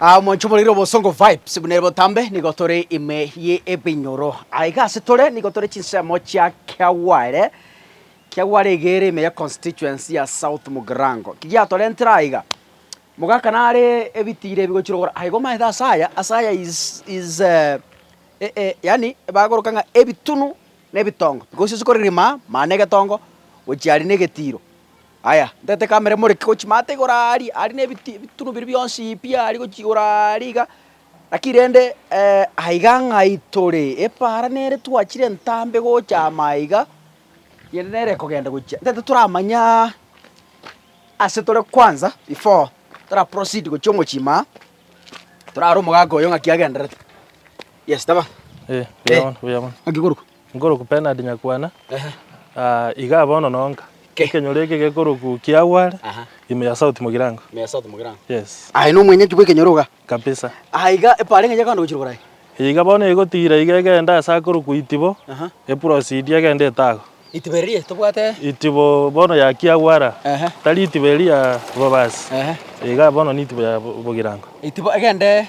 Aa omonche omoreire obosongo vibes buna ere botambe nigo tore ime ye ebinyoro aiga ase tore nigo tore chinsemo chia Kiagware Kiagware iga ere ime ye constituency ya South Mugirango ki giatorentere aiga mogaka nare ebitira ebigochire gora aiga omaete ase aya ase aya is is yaani bagoroka ng'a ebitunu na ebitongo because ase kore rima mane egetongo gochia aria na egetiro. Aya, ntaete kamere moreke gochia maate igoro aaria, aria nebiti ebitunu biria bionsi pi aaria gochia igoro aaria iga, naki rende aiga ng'a itore epaara nere twachire entambe gocha ama aiga, riende nere ekogenda gochia. Ntaete toramanye aa ase tore kwanza before tora proceed gochia omochie maa, torare omogaka oyo ng'aki agenderete. Yes, taba. Eh, buya bono, buya bono. Ng'aki korokwa. Nkoroku Bernard Nyakwana, iga bono nonka ekenyoro eke gekoroku Kiagware, ime ya South Mugirango. Yes. Aye nomwenyeki bw'ekenyoro iga. Kabisa. Aye iga epara eng'encho ekogenda gochira Borai. Eye iga bono egotigira iga egende ase akoroku Itibo, eproceed egende Etago. Itibo eria tobwate? Itibo bono ya Kiagwara. Ehe. Tari itibo eria ya Bobasi. Ehe. Iga bono nitibo ya Bogirango. Itibo egende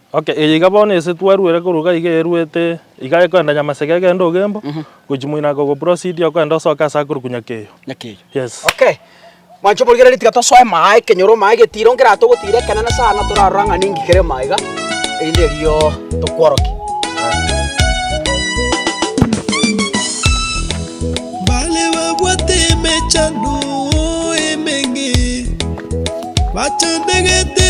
Okay, eye iga bono ase twaruere korwa iga iga eruete iga ekoenda Nyamaseke egende Ogembo, gochi moino ake ogoproceed okoenda osoke ase akorokwa Nyakeyo. Nyakeyo. Yes. Okay, mwancha omorigereria tiga tosoe maa ekenyoro maa egetiro nkere atogotira ekenene sana torarora ng'a ninki kere maa iga, erinde erio tokworoke. Mbare babwate emechando emenge, bachandegete.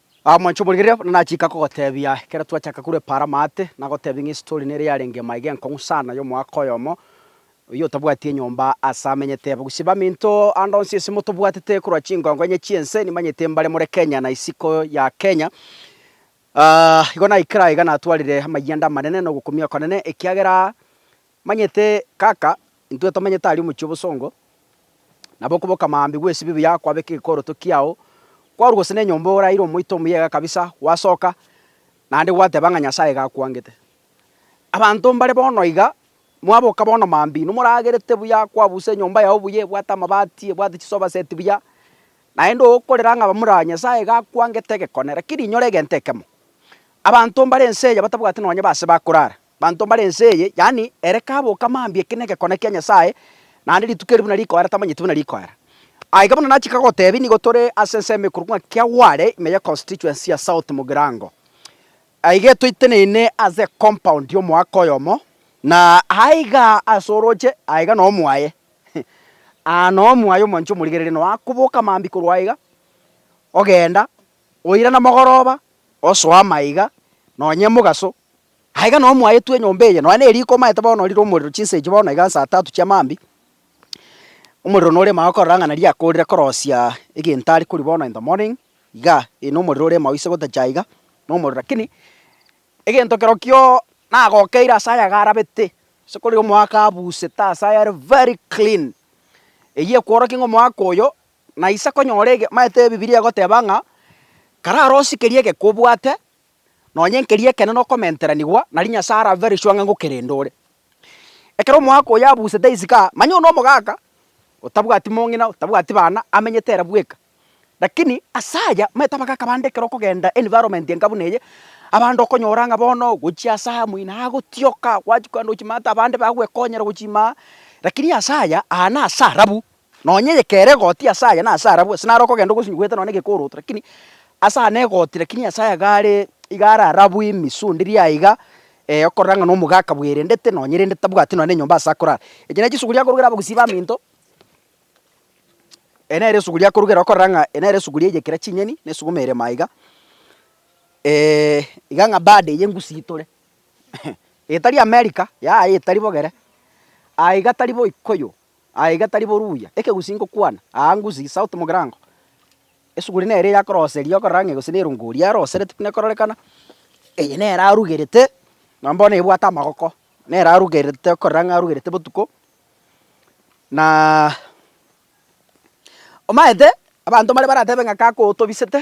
Mwancha omorigereria, buna nachika kogotebia, ekero twachaka korwa epaara amaate, nagotebia ng'a estory nere yarenge ime aiga enkong'u sana y'omoaka oyomo, oyio otabwati enyomba aase amenyete. Gose baminto ande onsi ase motobwatete korwa chingongo enye chi'ense, nimanyete mbare more Kenya na isiko ya Kenya. Igo naikire aiga natwarire amayiende amanene na ogokumia okonene, ekiagera Manyete kaka, intwe tomenyete aria omochie obosongo, nabo okoboka maambia gw'esibio buya kwabeka egekoroto kiao, kwarwa gose nenyomba oraire omoito omuyega kabisa, gwasoka, naende gwateba ng'a Nyasae iga akwangete. Abanto mbare bono iga, mwaboka bono maambia inwe moragerete buya, kwabusa enyomba yao buya, ebwate amabati, ebwate chisofa set buya, naende okorera ng'a bamura Nyasae iga akwangete egekone, rakini inyore egento ekemo, abanto mbare ense eye batabwati nonye base bakorara, Banto mbare ense eye, yaani ere kaboka mambia ekina egekone kia Nyasae, naende rituko eri buna rikoera tamanyeti buna rikoera. Aiga bono nachika gotebi nigo tore ase ensemo ekorwa ng'a Kiagware ime ye constituency ya South Mugirango. Aiga etoiteneine ase ecompoundi omoaka oyomo, na aiga ase oroche aiga no omwaye aa no omwaye omwancha omorigereria no akoboka mambia korwa aiga ogenda oirana mogoroba osoa maiga nonye emogaso Na iga nao mwaetwe enyomba eye, nonya neriko omaete bono orire omorero chinsa echi bono iga saa tatu chia maambia, omorero noremo aye okorora ng'a nari akoorire korosia egento are koria bono in the morning igaa, ee nomorero oremo aye ase gotacha iga, nomorero rakini egento kerokio nagokeire ase aya iga arabete, ase kore omoaka abusete ase aya are very clean, eywo ekworokia ng'a omoaka oyo naisa konyora ege omaete ebibiria egoteba ng'a kararosie keria egeke obwate, Nonya enkeri ekenene okomenteranigwa, nari Nyasae arabere sure ng'a ngokerende ore. Ekero omoaka oyo abusete isiko, manya one omogaka, otabwati mong'ina, otabwati bana, amenyete ere bweka. Lakini ase aya, omanyete abagaka bande ekero okogenda environment enka buna eye, abande okonyora ng'a bono gochia ase aya moino agotioka, gwachia kogenda gochia ime abanto bagwekonyera gochia ime aa, lakini ase aya, aa nase arabu. Nonya eyekera egoti ase aye na ase arabwo, ase naro okogenda ogosinywa gweete nonya negekooroto, lakini ase aa negoti, lakini ase aya iga are, iga are arabwo ime iso onde riria iga, ee okorora ng'a nomoga akabwerendete nonya rende tabwati nonya nenyomba ase akorara. Echi nachi esuguria akorugera abagusii baminto, eye nere esuguria akorugera okorora ng'a eye nere esuguria eyekera chinyeni na esuguma erema iga iga ng'a bado eye ngusii tore etari America, yaya etari bogere, aa iga tari boikoyo. Aye iga tari boruya, ekegusii ngokwana, Aa ngusii, south mogirango. Esuguri nere eye akoroseria okorora ng'e gose nerungori arosereti buna ekororekana, eye nere arugerete, nonye bono ebwate amagoko, nere arugerete okorora ng'a arugerete botuko, na omaete abanto mbare baratebe ng'a kaka otobisete,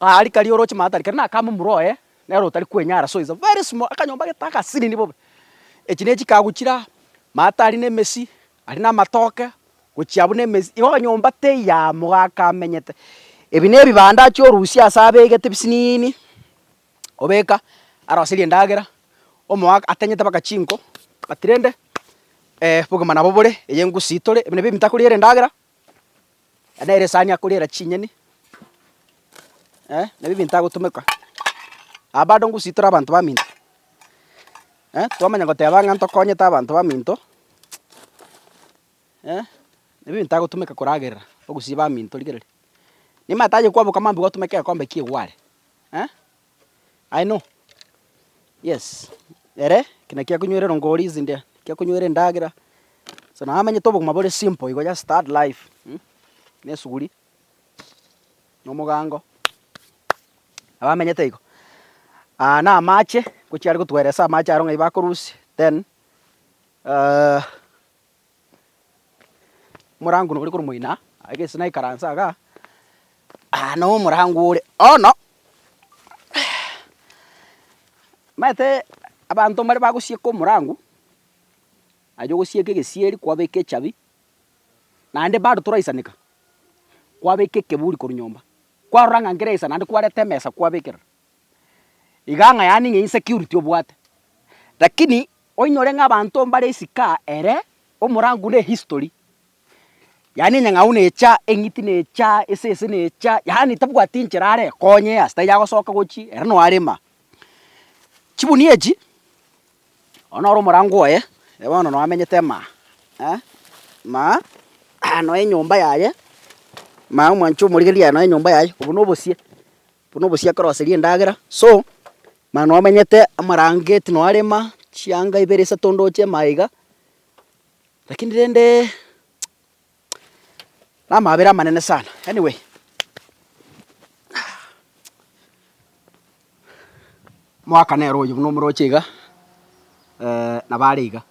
Aria karia oroche maata aria karia nakame omura oye nere otari kwenyara so it's very small akanyomba gete agasiriri bobe. Echi ne chikago chire aa, maata aria na emesi, aria na amatoke gochia abwo na emesi igo nyomba teyamo gaka amenyete. Ebi ne ebibanda achia orusia ase abegete ebisiniini obeka aroserie endagera omoaka atenyete mpaka chinko but rende bogima nabo bore eye engusii tore ebi nabio ebitakoriera endagera. Aya nere esani ya koriera chinyeni, nabio ebinto agotomeka. Aba bado ngusii tore abanto baminto, twamanya goteba ng'a ntokonyete abanto baminto, nabio ebinto agotomeka koragerera ogusii baminto rigereria. Nimanyete aye kwaboka mambia gwatomeka egekombe kia egware. I know, yes, ere eki nakio akonywere rongori izi ndia, ekio akonywere endagera, so naye amanyete obogima bore simple igo just start life mh, na esuguri, na omogaango, nabo amenyete igo. Aa na amache, ngochia are gotueresa amache aro ng'ai bakorusia then. Omorango nore korwa moino aa, aye gese naikaranse igaa, aah noo omorango ore bono, omanyete abanto mbare bagosieka omorango, aye ogosieka egesieri kwabeka echabi, naende bado toraisaneka, kwabeka ekeburi korwa nyomba, kwarora ng'a nkere isa naende kwareta emesa kwabekerera, iga ng'a yaani ng'a insecurity obwate. Lakini Oinyore ng'a abanto mbare isiko ere omorango ne history, yaani enyang'au necha, eng'iti necha, esese necha, yaani tabwati enchera are ekonye ase taiyo agosoka gochia ere noo arema. Chibunia echi, oyo noro omorango oye, ere bono noo amenyete maa eh, maa noo enyomba yaye, maa omwancha omorigereria aye noo enyomba yaye, obwo nobosie. Buna obosio akoroseria endagera, so, mana nomenyete amarangeti noarema chianga ibere isato ndoche ime aiga, rakini rende namabera amanene sana, anyway mwaka nere oyo buna omoroche iga nabo are iga,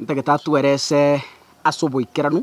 ntagete atwere ase ase oboikeranu.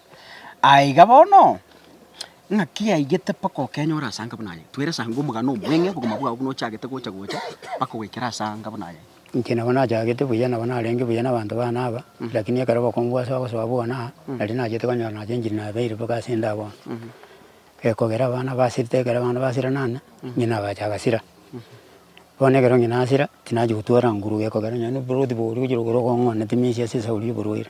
Aiga bono, ng'aki yaigete mpaka okenyora ase anga buna aye? Twere ase anga omogano omweng'e obogima bwao buna ochagete gocha gocha mpaka goikera ase anga buna aye. Inche nabo nachagete buya, nabo narenge buya nabanto bane aba, lakini ekero obokongu bwase bagosoa bwona aa, nari nachete konyora nache enchiri nabeire mpaka ase enda bono. Ekogera abana basirete, ekero abana basira nane, ng'ina agacha agasira. Bono ekero ng'ina asira, tinachia gotwara nguru, gekogera nonya noboroti boria ogochia gokora okong'wanete misia ase esauri y'oborwaire.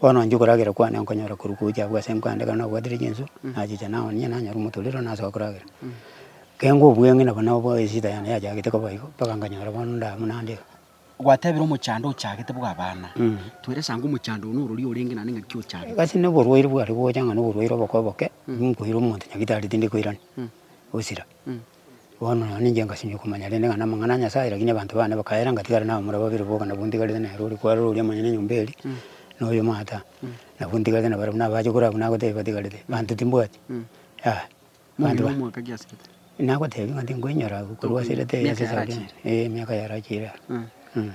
Bono inche okoragera kwane nkonyora korwa gocha agwo ase enkandagera nabwatire chinsu, nachicha naonia onye nanyora omotorero nasoa koragera. Keng'u obweng'e nabo nabo esida yane yachagete koba igo mpaka nkanyora bono nda buna ande iga. Gwatebire omochando ochagete bwa abana, twere esango omochando one orori orenge naende ng'aki ochagete. Egasi na oborwaire bware gocha ng'a na oborwaire oboko oboke, ninkoire omonto nyagitari tindi koirani, osira. Bono nonya ninche ngasimia komanya rende ng'a namang'ana a Nyasae, rakini abanto bane bakaera ngatigare nabo muna babere boka nabwo ntigarete nere oria kwarora oria monyene enyomba eria, na oyo omata, nabwo ntigarete nabare buna abache korwa abwo nagotebia batigarete, abanto timbwati, yaya. Abanto ba. Nagotebia ng'a tinkoinyora korwa ase ritaiyo ase esegi eye, eh emiaka yarachire aro, eh.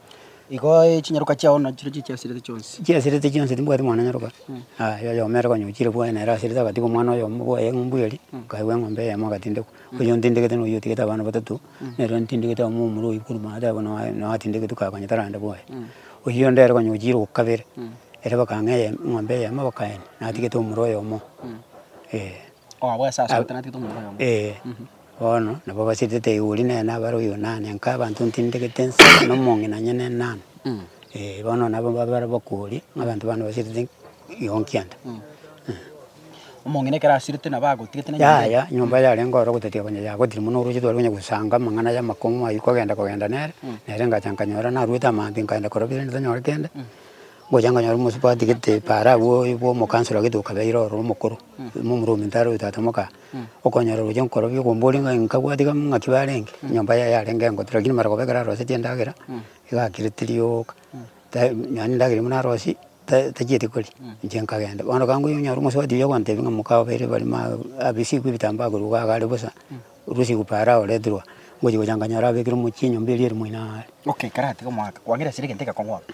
Igo chinyaroka chiao nachireo chichiasirete chionsi. Chiasirete chionsi timbwati mwana nyaroka, aye oyomo ere konya ochire bwaye nere asirete agatiga omwana oyomo bwaye eng'umbu eria, akaegwa eng'ombe eyemo agatindekwa, oyio ntindegete noyio otigete abana batato, nere ntindegete oyomo omorwe oyio korwa omotwe abe noe noe atindegetwe kaye konya tarande bwaye. Oyio onde ere konya ochire okabere, ere bakang'a eye eng'ombe eyemo bakaenia, natigete omorwe oyomo, eeh. Ee, bono nabo basetete igori nere nabare Oyonani, nka abanto ntindegete nse na omong'ina onye ne nani. Ee, bono nabo babare bakori ng'a abanto bande basetete gionki ande. Yaya, nyomba yarenge oro ogotatiga konya yagotire mono oroche tware konya gosanga amang'ana ya amakong'u aywo kogenda kogenda nere, nere ngacha nkanyora narwete amaambia nkaenda korwa bire ntitanyore kende, ngocha nkanyora omosubati gete paara abwo bwa omokansoro gete okabeire oro omokoro. Ime omorwa ominto oyo tata moka okonyora roche nkorobi okombori ng'a nkabwati iga ng'aki barenge nyomba yaye yarenge engote lakini mara koba ekero arosetie endagera iga akire tiri oka ta nonya na endagera buna arosie ta tachieti koria inche nkagenda bono gaki ngoika onyore omosubati oyo ogontebia ng'a moka obeire bare ma abisiku ebitambaa korwa iga iga are bosa rusiku para aoreterwa ngochi gocha nkanyora abekire omochie nyomba eria ere moino aaare. Okay karatige omwaka kwang'erasire egento egekong'u abwo.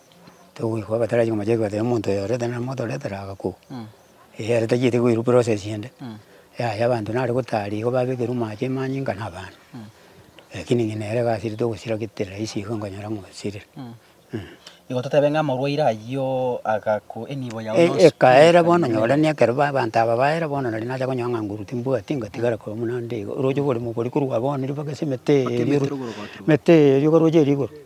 Togoikwa batarachi komocha ekiagera tari omonto oyo oreta nere moto oretera agakoo. Eeh ere tachieti koirwa process ende, yaya abanto nare gotari igo babekerwa amache amanyinga na abana. Rakini ng'ina ere egasi ere togosira gete rahisi iga nkonyora ng'a osirire eeh. Igo totebe ng'a omorwaire ayio agakwa enibo yago yonsi. Ekaera bono nyorani ekero ba abanto aba baera bono nari nacha konyora ng'a nguru timbwati ngatigara korwa buna ande iga, oroche oboremo obo oria korwa bono ribaga ase emete eeri oroche emete eeri ogaroche eeri igoro.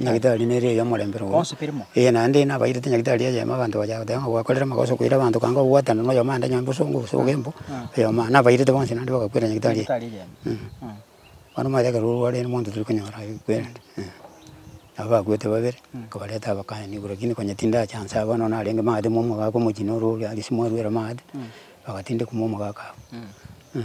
Nyagitari nere ey'omorembe rogoro, ee, naende nabairete nyagitari eyemo abanto baria goteba ng'a gwakorire amagoso okoira abanto kanga ogwatana na oyomo ande nyomba osongo gose ogembo, oyomo aa, nabairete bonsi naende bagakwera nyagitari eye. Bono omanyete ekero orwarire nomonto tari konyora akwere ande, eh. Nabo bakwete babere, nkabareta abakanye nigo rakini konya tindachansa aa bono narenge maate momogaka omochie nororia gese mwarwera maate, bagatindeka momogaka abwo, eh.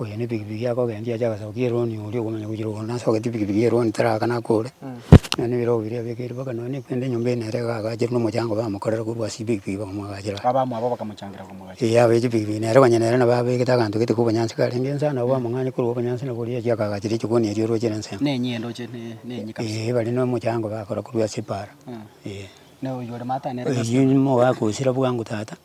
Oyo ne pikipiki akogendia ache agasaba ki eroni oria okomanya gochia rogoro nase ogeti pikipiki eroni tarakana akore. Nonya ne ebirogo biria abekeiri mpaka nonya ne kende enyomba ene ere iga agacherwa na omochango bamokorera korwa ase epikipiki bakamwagachera iga. Abamo abwo bakamochangira komwagachera. Eeh abeche pikipiki nere konya nere nabo abegete aganto gete ka obonyansi karenge ense aa nabo bamong'anya korwa obonyansi nabo oria achia akagachera echikoni eria orwachere ensemo. Ne enyie ndoche ne ne enyie kabisa. Eeh bare na omochango bakora korwa ase epaara eeh. Na oywo ore matane ere. Oywo nigo agosira bwango tata.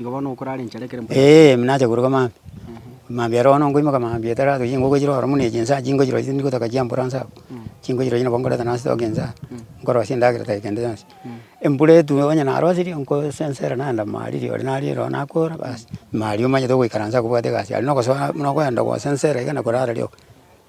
Igo bono okorara enchara ekero mpore. Eeh nacha koruga maambia, maambia ero bono nkoimoka maambia etarabe chingogo chire oro buna echi inse aa chingochirora chitari gotoka chia mboro anse abwo, chingochirora chire nabo nkoreta nase toke inse aa, nkorosia endagera tai kende yonsi. Embura etube onye naroserie nkosensera naenda mariri ore narire oo nakora bas, maria omanyete ogoikaransa kobwate egasi aria, nogosoa buna okoenda gosensera iga na korara rioka.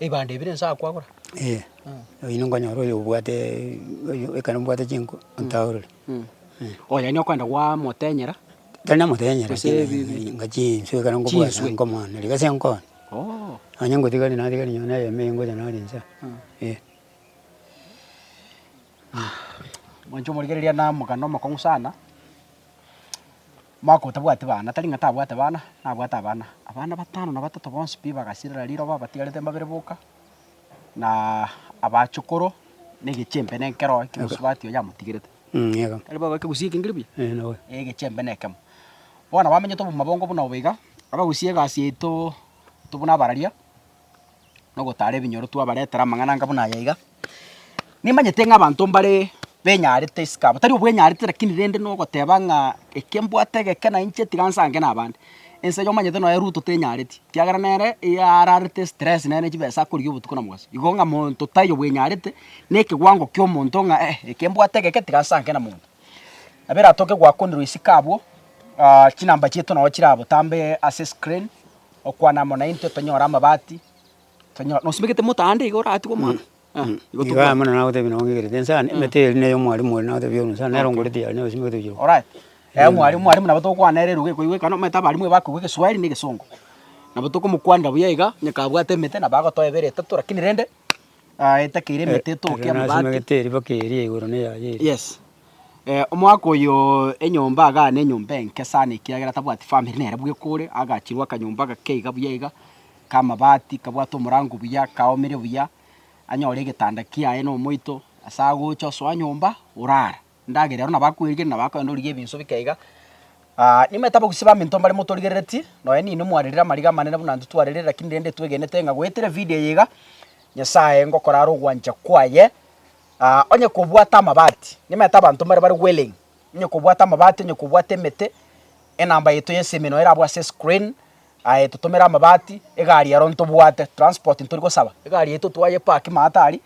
Ebibanda ebire inse aa kwagora? Ee, oyio nigo okonyora oyo obwateeee oyo ekero mbwate chinko ntaurure, eh. Oh yaani okwenda gwamotenyera? Tari namotenyera Gose lakini bi- bi- ngachia enswe ekero nkobwata Chinswe. nkomwana rirorio ase nkore. Oh. Onye ngotigari natigari nonye na eyemo eye ngocha nari inse aa, eh. Mwancha omorigereria na omogano omokong'u sana. Omwaka otabwati bana, tari ng'a tabwate bana, nabwate abana. Abana batano na batato bonsi pi bagasirera riroba batigarete mbabere boka, na abachokoro, na egechempe na ekeroa ki Yehosafati oyo yamotigerete. Tari bobe ekegusia eke ngeria buya? Ee, egechempe nekemo. Bono abamenyete obomabongo buna obo iga, abagusie egasi yaito tobuna abararia. na ogotaara ebinyoro twabaretera amang'ana anga buna aya iga. Nimanyete ng'a abanto mbare benyarete isiko aba, tari obwenyarete lakini rende na ogoteba ng'a eke mbwate egeke na inche tiga nsange na abande. Ense iga omanyete nonye Ruto tenyareti, ekiagera nere ararete estress nere ne chibesa akorigia obotuko na mobaso. Igo ng'a monto tari obwenyarete, na ekewango kia omonto ng'a eh eke mbwate egeke tiga nsange na monto. Nabo eratoke goakonerwa isiko abwo chinamba chiaito nabo chirabotambe ase escreen. okwana amo naintwe tonyore amabati, tonyo nosimegete moto aande iga oratigwe omwana? Aa igo Igo amo tobwati. nagotebia nonye ng'ekereti inse aane, emete eria eri neye omwarimu oria nagotebia oyo nonye nere ongorete yaye nere osimegete oyiroka. Alright, ee omwarimu omwarimu nabo togokwana nere eruga ekoigwa ekero omanyete abarimu bakoigwa egeswahili na egesongo. Nabo tokomokwanera buya iga, onye kabwate emete nabo agotoa ebere, etato, lakini rende. Ah, etakeire emete etoke Aria amabati. nasimegete eriba keria igoro na eyaye eria. Yes. Eh, omwaka oyo enyomba agana enyomba enke sana ekiagera tabwati family nere bwe kore, agachirwa akanyomba gake iga buya iga, kamabati kabwate omorango buya, kaomire buya, anyore egetanda kiaye na omoito, ase agocha osoa nyomba orara. Ndagera ero nabakwerigereria na bakoenda origie ebinsu bike iga. Nimanyete abagusii baminto mbare motorigereretie, nonya ninwe mwarerire amariga amanene buna intwe twarerire lakini rende twegenete ng'a goetera evideo eye iga, Nyasaye ngokora are ogwancha kwaye, onye kobwate amabati, nimanyete abanto mbare bare willing, onye kobwate amabati, onye kobwate emete, enamba yaito ya esimeno erabwo ase escreen, Aye totomere amabati, egari ero ntobwate, transport ntori gosaba, egari yaito twaye park maate aria,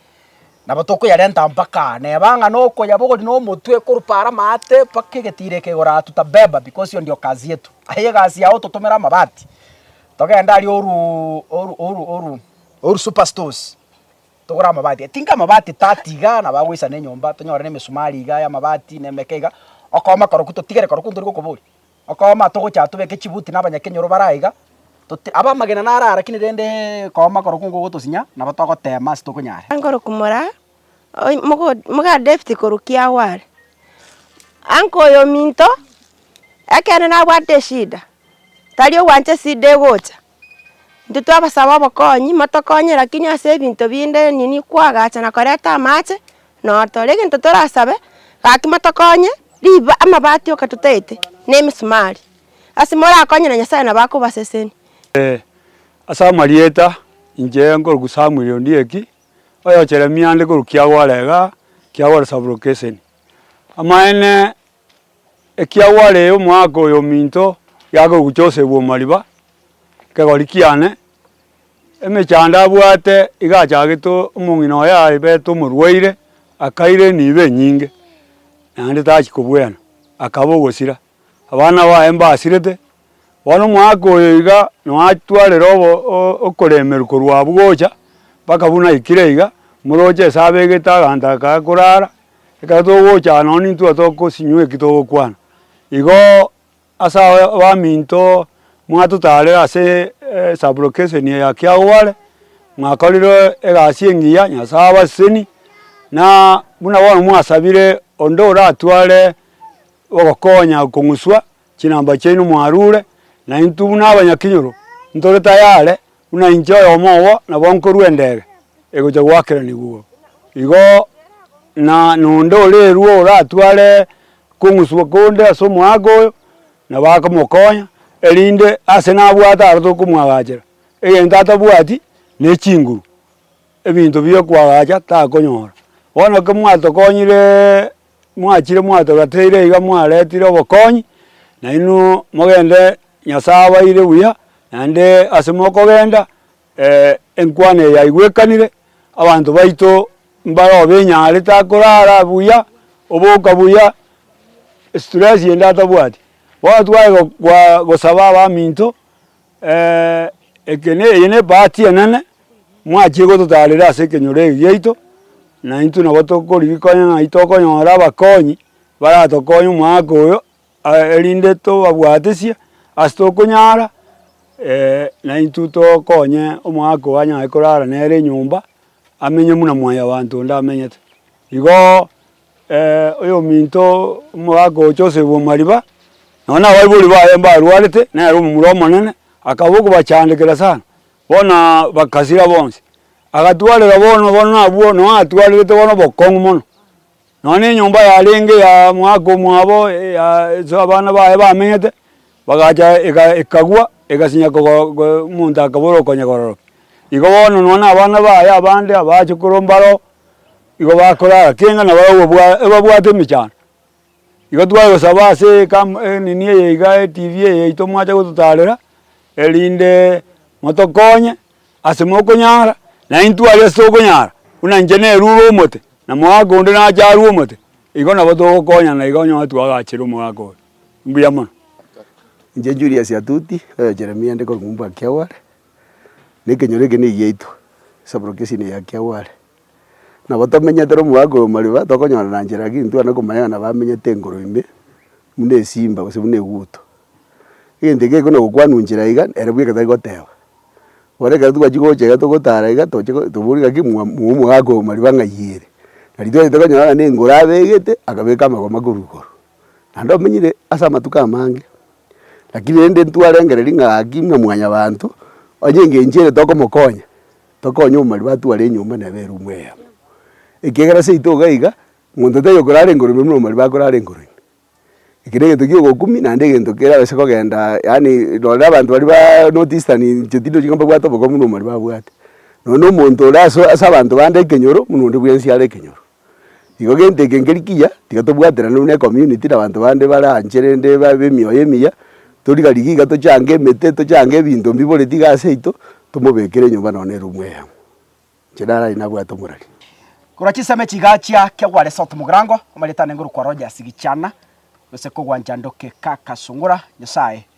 nabo tokoyarenta mpaka aa. Neba ng'a nokoyaba ogori na omotwe ekorupa are amaate mpaka egetiro eke igoro aa tutabeba because hiyo ndio kazi yetu. Aye egasi yao totomere amabati, togende aria oru oru oru oru oru super stores, togore amabati aye. Tinga amabati thirty igaa nabo agoisana enyomba, tonyore na emesumari igaa ya amabati na emeke igaa, okooma korokwo totigere korokwo ntori gokoboria. Okooma togocha tobeke chibuti na abanyakenyoro bare aiga, tot abamagena nare arakine rende kooma korokwo nigo gotosinya, nabo togoteema ase tokonyara. Angoro kumora oy mogo mogaa David korwa kiago are. Anko oyo ominto, ekeene nabwate eshida, tari ogwancha esida egocha. intwe twabasaba obokonyi, motokonye lakini ase ebinto binde nini koagacha na koreta amache, notore egento torasabe, gaki motokonye, riba amabati oka totaete, na emisumari, ase morakonye na Nyasaye nabo akobaseseni. Ase amarieta, inche nkoroku Samuel Ondieki, oyocheremia ande korwa Kiagwara igaa, Kiagwara sub-location. Amaene Ekiagwarire omwaka oyo ominto yake ogochosegwa omariba, ekegori kiane, emechando abwate iga achagete omong'ina oye abete omorwaire, akaira enibo enyinge, naende tachia kobwena, akaba ogosira. Abana baye mbasirete. Bono omwaka oyo iga noatwarire okoremerwa korwa abwo gocha, mpaka buna aikire iga, moroche ase abegete aganto aka akorara, ekero togocha aa nonye nintwe otokosinywa eki togokwana. Igoo ase abaminto mwatotarire ase sub location eye ya kiagobare, mwakorire egasi engiya, Nyasaye abaseseni, na buna bono mwasabire onde oratware ogokonya kong'uswa. Chinamba chiaino mwarure, na intwe buna abanyakinyoro ntore tayare, buna inche oyomo obo nabo nkorua endege egocha goakeranigwa igoro. Igo na nonde orerua oratware kong'uswa konde ase omoaka oyo, na bakamokonya, erinde ase nabwate aro tokomwagachera. Egento atabwati nechinguru, ebinto biokwagacha takonyora. Bono ekero mwatokonyireee. Mwachire mwatogateire iga mwaretire obokonyi, nainwe mogende Nyasae abaire buya, naende ase mokogenda enkwano eye yaigwekanire, abanto baito mbare obe enyare takorara buya, oboka buya, stress ende atabwati. Bono tware gosaba abaminto. Ekene, eye nebahati enene, mwachire gototaarera ase ekenyoro eke giaito, na intwe nabo tokorigika onye ng'ai tokonyora abakonyi, baratokonye omwaka oyo, erinde tobabwatisie ase tokonyara, na intwe tokonye omwaka oyo anyare korara nere enyomba, amenye buna mwanyabanto onde amenyete. Igoo. Oyominto omo agocha oseibwa omariba, nonye na abaibori baye mbarwarete, nere omomura omonene, akaba okobachandekera sana, bono bakasira bonsi. Agatwarera bono bono abwo nonye atwarerete bono obokong'u mono. Nonye na enyomba yarenge ya omogaka omwabo ase abana baye bamenyete, bagacha ekagwa egasinya omonto akaba ore okonyekororokia. Igo bono nonye na abana baye abande abaachokoro mbaro, igo bakorara keng'ana nabo bagokobwa ebabwate emechando. Igo twagosaba ase ekam enini eye iga etv eye yaito mwacha gototarera, eriindeee motokonye ase mokonyara, naende intwe aria ase tokonyara, buna inche nerure omote, na mogaka onde nache arue omote, igo nabo togokonyana iga onyore twagachire omogaka oyo. Mbuya mono. Inche Julius Atuti, oyo Jeremia nde korokwa Mbwakiagware, na ekenyoro eke negiaito, esaboro kia esini eye kia Ware. Nabo tomenyete na omogaka oyo mariba, tokonyorana nchera lakini ntitwane komanya nabo amenyete igoro ime, buna esimba gose buna eguto. Egento eke gekona gokwanwa nchera iga, ere bweka tari goteba. Bono ekero twachia gocha iga togotara iga, toche go tobori gaki mwa mwa omogaka oyo mariba ng'ai ere. Nari twachete konyora ng'a nengoro abegete, akabeka amagoma korwa igoro. naende omenyire ase amatuko amange, lakini rende ntwarengereria ng'a gaki ng'a mwanyabanto onye enga enchera ere tokomokonya, tokonye omobari batware enyomba neba erumu eyemo. Ekiagera seito iga iga, monto tari okorara igoro ime buna omobari bakorara igoro ime. Eke na egento kia ogokumi naende egento keraba ase kogenda yaani rora abanto baria baaaa north eastern inche tindi ochi ng'a mbabwate obokongu buna omobari babwate. Nonya na omonto ore aso ase abanto bande ekenyoro buna onde bwensi are ekenyoro. Igo gento eke nkeri kiya, tiga tobwaterane buna ecommunity na abanto bande bare anche rende babe emioyo emiya, tori garigia iga tochange emete, tochange ebinto mbiboreti iga ase yaito, tomobekere enyomba nonye na erumu eyemo. Inche narari nabwate omorari. Korwa chisemi chigachia kia gware South Mugirango, omanyete ande ngorokwa Rogers Gichana, gose kogwancha Ndoke Kaka Sungura, Nyasaye